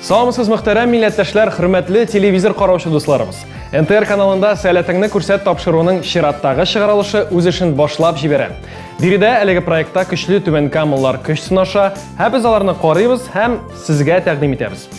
Саламсыз мөхтәрәм милләттәшләр, хөрмәтле телевизор караучы дусларыбыз. НТР каналында сәләтеңне күрсәт тапшыруының чираттагы чыгарылышы үз эшен башлап җибәрә. Биредә әлеге проектта көчле түбән камыллар көч сынаша, һәм без аларны карыйбыз һәм сезгә тәкъдим итәбез.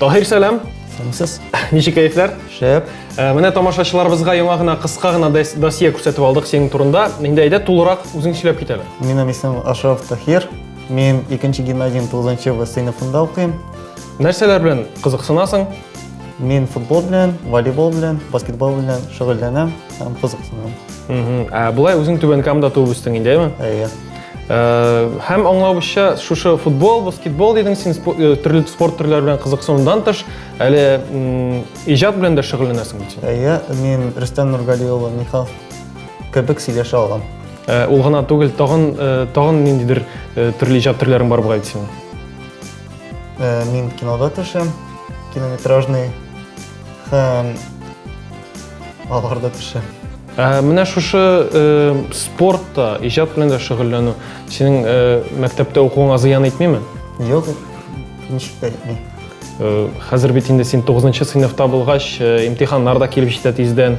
Таһир, сәлам. Сәламсез. Ничек кәефләр? Шәп. Э, менә тамашачыларыбызга яңа гына кыска гына досье күрсәтеп алдык синең турында. Инде әйдә тулырак үзең сөйләп кит әле. Минем исем Ашраф Таһир. Мин 2 гимназиянең 9 В сыйныфында укыйм. Нәрсәләр белән кызыксынасың? Мин футбол белән, волейбол белән, баскетбол белән шөгыльләнәм һәм кызыксынам. Ә болай үзең Түбән Камада туып үстең инде, әйеме? Әйе. Э, һәм аңлавымча шушы футбол баскетбол дидең син э, төрле спорт төрләре белән кызыксынудан тыш әле иҗат белән дә шөгыльләнәсең бит син иә мин рөстәм нургали улы михалков кебек сөйләшә алам э, ул гына түгел тагын тагын ниндидер төрле иҗат төрләрең бар бугай бит синең мин кинода төшәм километражный һәм аларда төшәм Ә менә шушы спортта, иҗат белән дә шөгыльләнү синең мәктәптә укуыңа зыян итмиме? Юк, ничек тә итми. Хәзер бит инде син 9 сыйныфта булгач, имтиханнар да килеп җитә тиздән.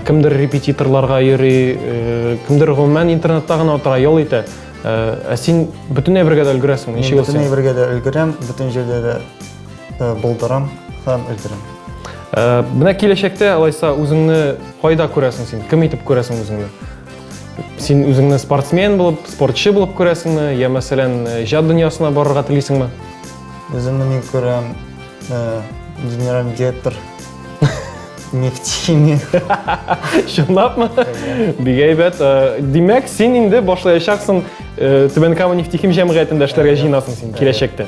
Кемдер репетиторларга йөри, кемдер гомумән интернетта гына утыра, ял итә. Ә син бөтенләй бергә дә өлгерәсеңме? Ничек ул син? Бөтенләй бергә дә өлгерәм, бөтен җирдә дә э, булдырам һәм өлдерәм. Э, менә киләчәктә алайса үзеңне кайда күрәсең син? Кем итеп күрәсең үзеңне? Син үзеңне спортсмен булып, спортчы булып күрәсеңме? Я мәсәлән, э, иҗат дөньясына барырга телисеңме? Үземне мин күрәм генеральный директор нефтехимия. Чынлапмы? Бик әйбәт. Димәк, син инде башлаячаксың Түбән Кама нефтехим җәмгыятендә эшләргә җыенасың син киләчәктә.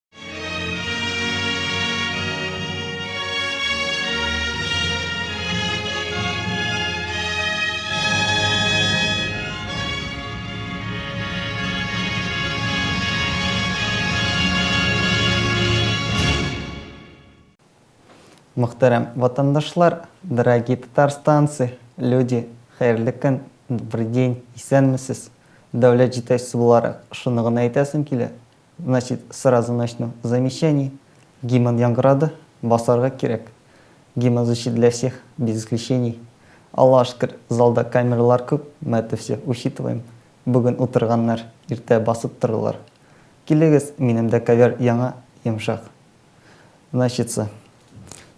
Мөхтәрәм ватандашлар, дорогие татарстанцы, люди, хәерле көн, добрый день, исәнмесез. Дәүләт җитәкчесе буларак, шуны гына әйтәсем килә, Значит, сразу начну с замечаний. Гимн яңгырады, басарга кирәк. Гимн звучит для всех, без исключений. Аллага шөкер, залда камералар күп, мы это всё учитываем. Бүген утырганнар, иртә басып торырлар. Килегез, минемдә ковер яңа, йомшак. Значится,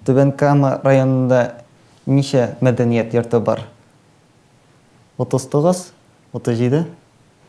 Түбән Кама районында ничә мәдәният йорты бар? 39, 37,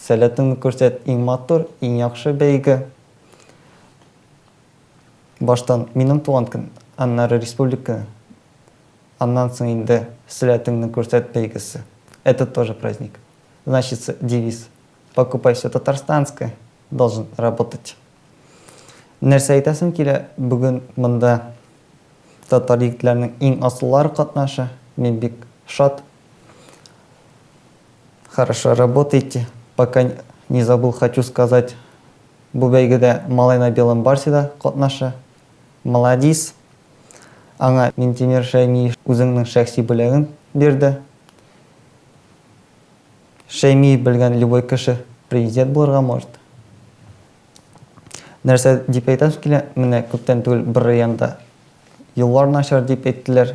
Сәләтеңне күрсәт иң матур, иң яхшы бәйге. Баштан минем туган көн, аннары республика көне, аннан соң инде Сәләтеңне күрсәт бәйгесе. Это тоже праздник. Значится, девиз, покупай всё татарстанское, должен работать. Нәрсә әйтәсем килә, бүген монда татар егетләренең иң асыллары катнаша, мин бик шат, Хорошо работаете. Пока не забыл, хочу сказать. Бу бәйгедә малай на белом барсе да катнаша. Маладис. Аңа Минтимер Шәймиев үзеңнең шәхси бүләген бирде. Шәймиев белгән любой кеше президент булырга может. Нәрсә дип әйтәм килә, менә күптән түгел бер районда юллар начар дип әйттеләр,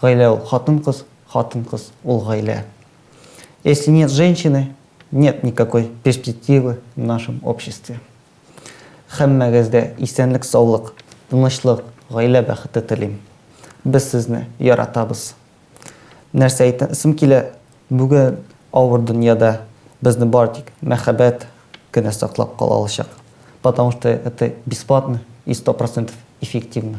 Гаилә ул хатын-кыз, хатын-кыз ул гаилә. Если нет женщины, нет никакой перспективы в нашем обществе. Һәммәгездә исәнлек-саулык, тынычлык, гаилә бәхете телим. Без сезне яратабыз. Нәрсә әйтәсем килә, бүген авыр дөньяда безне бары тик мәхәббәт кенә саклап кала алачак. Потому что это бесплатно и сто процентов эффективно.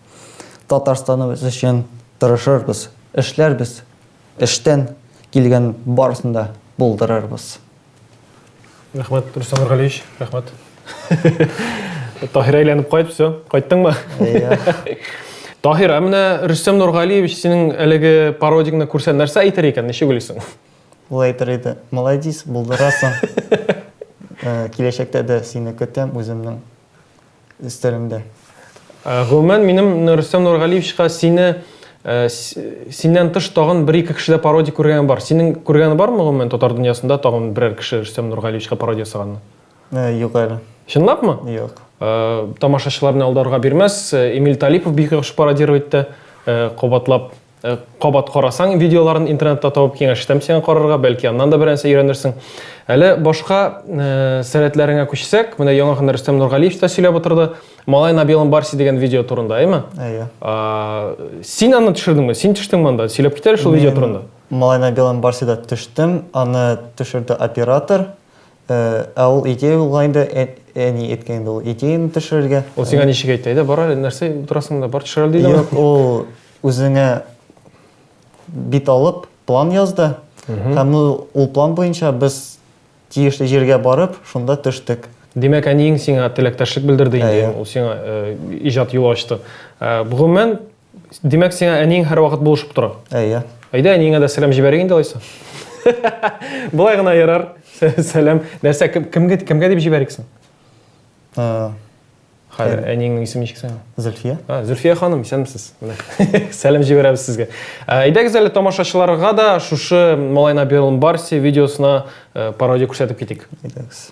Татарстаныбыз өчен тырышырбыз, эшләрбез, эштән килгән барысын да булдырырбыз. Рәхмәт, Рөстәм Нургалиевич, рәхмәт. Таһир әйләнеп кайт, все, кайттыңмы? Таһир, ә менә Рөстәм Нургалиевич синең әлеге пародигны күрсә нәрсә әйтер икән, ничек уйлыйсың? Ул әйтер иде, молодец, булдырасың. Киләчәктә дә сине көтәм үземнең стилендә. Гомумән, минем Рөстәм Нургалиевичка сине синнән тыш тагын бер-ике кешедә пародия күргәнем бар. Синең күргәнең бармы гомумән татар дөньясында тагын берәр кеше Рөстәм Нургалиевичка пародия ясаганны? Юк әле. Чынлапмы? Юк. Тамашачыларны алдарга бирмәс, Эмиль Талипов бик яхшы пародировать итте, кабатлап. Кабат карасаң видеоларын интернетта табып киңәш итәм сиңа карарга, бәлки аннан да берәрсе өйрәнерсең. Әле башка сәләтләреңә күчсәк, менә яңа гына Рөстәм Нургалиев та сөйләп утырды. Малай на белом барсе дигән видео турында, әйме? Әйе. Син аны төшердеңме? Син төштеңме анда? Сөйләп китәле шул видео турында. Малай на белом барсе да төштем. Аны төшерде оператор. Ә ул идея булган инде, әни әйткән инде ул идеяны төшерергә. Ул сиңа ничек әйтте? Әйдә, бар әле, нәрсә торасың монда, бар төшер әле диде. Юк, ул Үзеңә бит алып, план язды. Һәм ул план буенча без тиешле җиргә барып, шунда төштек. Димәк, әниең сиңа теләктәшлек белдерде инде. Әйе. Ул сиңа иҗат юлы ачты. Гомумән, димәк, сиңа әниең һәрвакыт булышып тора? Әйе. Әйдә, әниеңә дә сәлам җибәрик инде алайса. Болай гына ярар. Сәлам. Нәрсә, кемгә дип җибәрик соң? Хәзер әниеңнең исеме ничек синең? Зөлфия. А, Зөлфия ханым, исәнмесез. Сәлам җибәрәбез сезгә. Әйдәгез әле тамашачыларга да шушы Малайна Берлн Барси видеосына э, пародия күрсәтеп китик. Әйдәгез.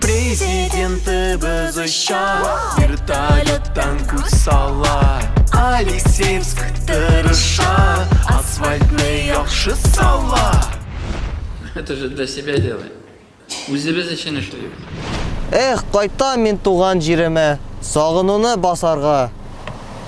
Президентыбыз оча Вертолеттан күз сала Алексеевск тырыша Асфальтны яхшы сала Это же для себя делаем. Үзебез өчен эшлибез. Эх, кайтам мин туган җиремә, сагынуны басарга.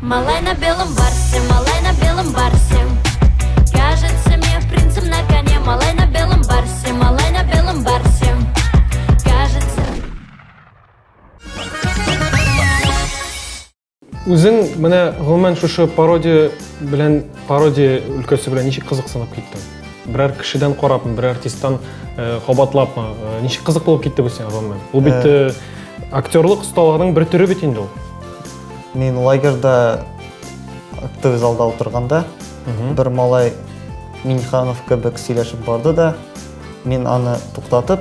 Малай на белом барсе, малай на белом барсе. Кажется мне принцем на коне, малай на белом барсе, малай на белом барсе. Кажется... Үзең менә гомумән шушы пародия белән пародия өлкәсе белән ничек кызыксынып киттең? Берәр кешедән карапмы, берәр артисттан э, кабатлапмы? Э, ничек кызык булып китте бу сиңа гомумән? Ул бит э, актерлык осталыгының бер төре бит инде ул. Мин лагерда актовый залда утырганда, бер малай Минханов кебек сөйләшеп барды да, мин аны туктатып,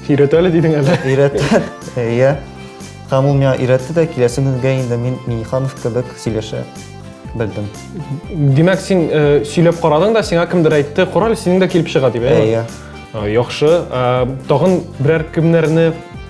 Өйрәт әле дидең әле. өйрәтте, иә. Һәм ул миңа өйрәтте дә, киләсе көнгә инде мин Минханов кебек сөйләшә белдем. Димәк, син э, сөйләп карадың да, сиңа кемдер әйтте, кораль синең дә килеп чыга дип, әйеме? Әйе. Э, Яхшы. Э, Тагын берәр кемнәрне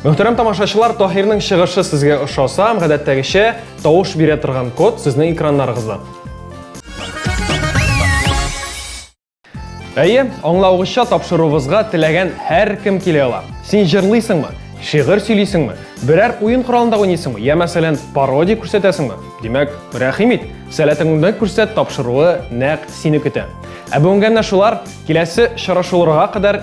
Мөхтәрәм тамашачылар, Таһирның чыгышы сезгә ошаса, гадәттәгечә тавыш бирә торган код сезнең экраннарыгызда. Әйе, аңлавыгызча тапшыруыбызга теләгән һәркем килә ала. Син җырлыйсыңмы? Шигырь сөйлисеңме? Берәр уен коралында уйныйсыңмы? Я мәсәлән, пародия күрсәтәсеңме? Димәк, рәхим ит, сәләтеңне күрсәт тапшыруы нәкъ сине көтә. Ә бүгенгә менә шулар, киләсе чарашуларга кадәр